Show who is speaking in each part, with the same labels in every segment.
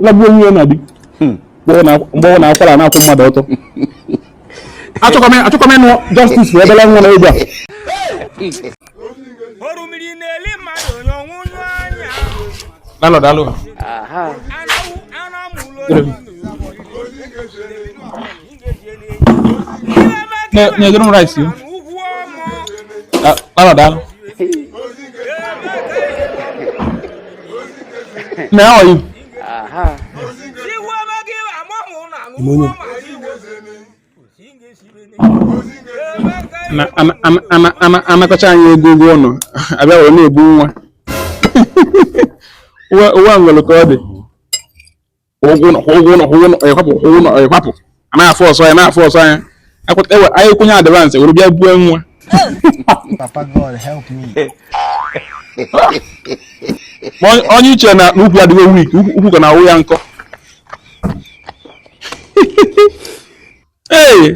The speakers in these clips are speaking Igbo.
Speaker 1: lagbuo onwe ya na di hmm. mgbe ọ na-akwara na-akwụ mmadụ ọtọ achọkwa m ịnụ justice for obele nwa na egwu a Lalo, daalụ. Ajá. nyedoro m rice m kpara daalụ na ya ọyị anakọcha anyị ego ụgwọ ụnọ abịa wee na-egbu nwa ụwa nwere ka ọ dị ụgwọ ụlọ kwụọ ụgwọ ụlọ kwụọ ụlọ ịkwapụ kwụọ ụlọ ịkwapụ a na-afụ ọsọ ya na-afụ ọsọ ya anyị kwụnye advance were bịa buo nwa onye uche na ukwu adịghị wik ukwu ka na-awụ ya nkọ ee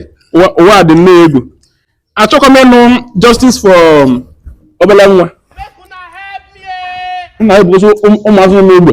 Speaker 1: ụwa dị nnọọ egwu achọkwa m ịnụ justice for um, obere nwa nna ya bụzi ụmụazụ n'ogbe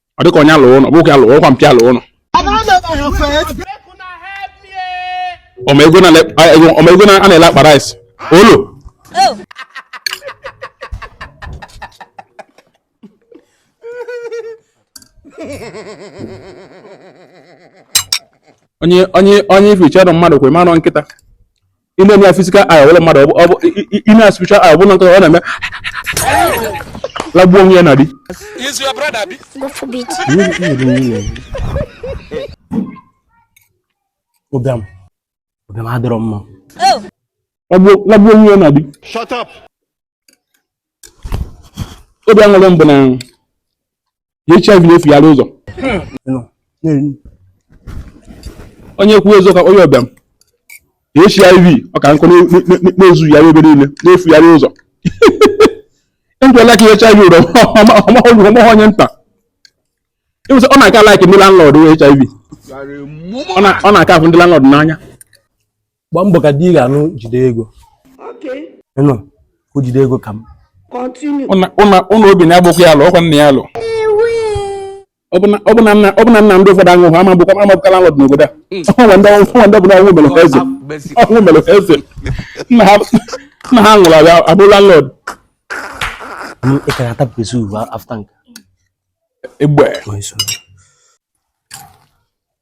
Speaker 1: ọ dịka onye alụ ụlọ ọ bụghị alụ ụlọ kwa mpịa alụ ụlọ ọma ego na- a- ego- ọma ego na- a na-ele akpa rice olo onye onye onye ife iche ọdụ mmadụ kwe manụ nkịta ị na-eme ya physical aya ọbụla mmadụ ọ bụ ị na spiritual aya ọbụla nkịta ọ na-eme lagbuo onwe ya na di ụbịam ụbịam adịrọ mma oh. lagbuo onwe ya na di obi aṅụrị mbụ na HIV na-efugharị ụzọ onye kwuo ezo ka onye ọbịa HIV ọ ka nkụ na-ezugharị ebe niile na-efugharị ụzọ ejụọla ka HIV ụrọ ọ maghị onye nta ịwụsị ọ na-aka like ndị landlord HIV ọ na-aka afụ ndị landlord n'anya gbaa mbọ ka di ị ga-anụ jide ego Okay. ịnụ ka o jide ego ka m Continue. ụnụ obi na-agbụkwa ya alụ ọkwa nna ya alụ ọ bụ na- ọ bụ na nna ọ bụ na nna ndị ụfọdụ anwụ ha ama bụkwa ama bụkwa landlord n'obodo a o nwe ndị o nwe ndị bụ na ọnwụ mere ha eze ọnwụ mere ha eze nna ha nna ha nwụrụ abịa abụrụ landlord m ị ka ga-ata pesi ugbu after nke egbe ma iso